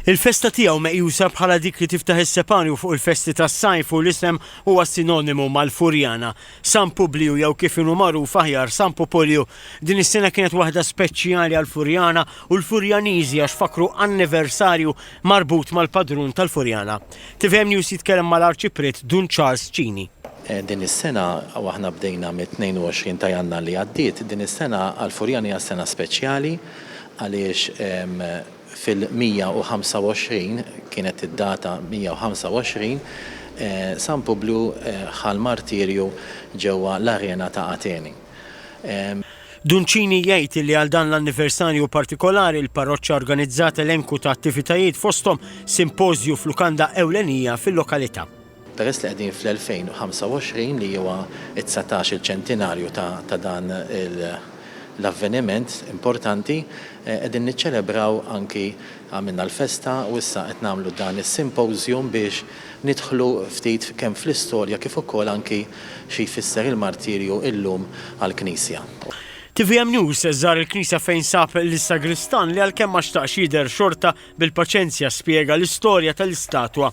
Il-festa tiegħu meqjusa bħala dik li tiftaħ is-sepanju fuq il-festi tas-sajf u l-isem huwa sinonimu mal-Furjana, San Publiju jew kif inhu magħruf aħjar San Pupulju. Din is-sena kienet waħda speċjali għall-Furjana u l-Furjaniżi għax fakkru anniversarju marbut mal-padrun tal-Furjana. Tvm News jitkellem mal-Arċipriet Dun Charles Cini. Din is-sena, u aħna bdejna mit-22 ta' Jannar li għaddiet, din is-sena għall-Furjana hija sena speċjali, għaliex fil-125, kienet id-data 125, San Publju ħa l-martirju ġewwa l-arena ta' Ateni. Duncini jgħid li għal dan l-anniversarju partikolari l-parroċċa organizzat elenku ta' attivitajiet fosthom simpożju f'lukanda ewlenija fil-lokalità. Peress li qegħdin fl-2025 li huwa t-dsatax il-ċentinarju ta' dan l-avveniment importanti, qegħdin niċċelebraw anki għamilna l-festa u issa qed nagħmlu dan is-simpożjum biex nidħlu ftit kemm fl-istorja kif ukoll anki xi jfisser il-martirju illum għall-Knisja. Tvm News żar il-Knisja fejn sab lis-sagristan li għalkemm ma xtaqx jidher xorta bil-paċenzja spjega l-istorja tal-istatwa.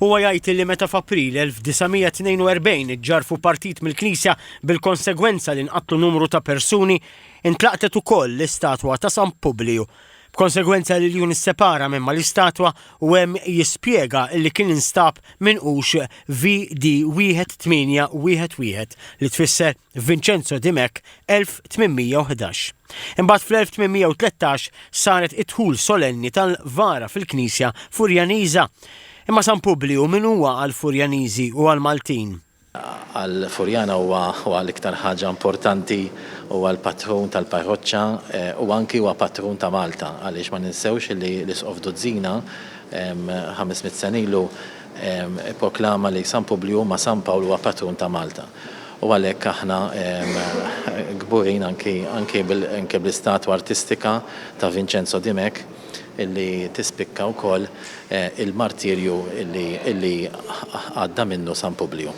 Huwa jgħid li meta f'April 1942 iġġarrfu partit mill-knisja bil-konsegwenza li nqatlu numru ta' persuni, intlaqtet ukoll l-istatwa ta' San Publiju. B'konsegwenza l-iljun issepara minn mal-istatwa u hemm jispjega li kien instab minqux VD 1811 li tfisser Vincenzo Dimech 1811. Imbagħad fl-1813 saret id-dħul solenni tal-vara fil-Knisja Furjaniża. Imma San Publiju min huwa għall-Furjaniżi u għall-Maltin? Għall-Furjana huwa huwa l-iktar ħaġa importanti, huwa l-patrun tal-parroċċa u anki huwa patrun ta' Malta għaliex ma ninsewx li l-Isqof Duzzina, ħames mitt sena ilu, Ipproklama li San Publju ma' San Pawl huwa patrun ta' Malta u għalhekk aħna kburin anke bl-istatwa artistika ta' Vinċenzo Dimech illi tispikka wkoll il-martirju illi għadda minnu San Publju.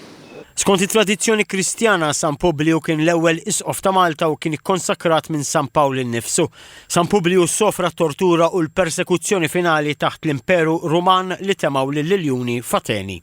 Skont it-tradizzjoni Kristjana, San Publju kien l-ewwel Isqof ta' Malta u kien ikkonsekrat minn San Pawl innifsu. San Publiju ssofra t-tortura u l-persekuzzjoni finali taħt l-Imperu Ruman li temgħu lill-iljuni f'Ateni.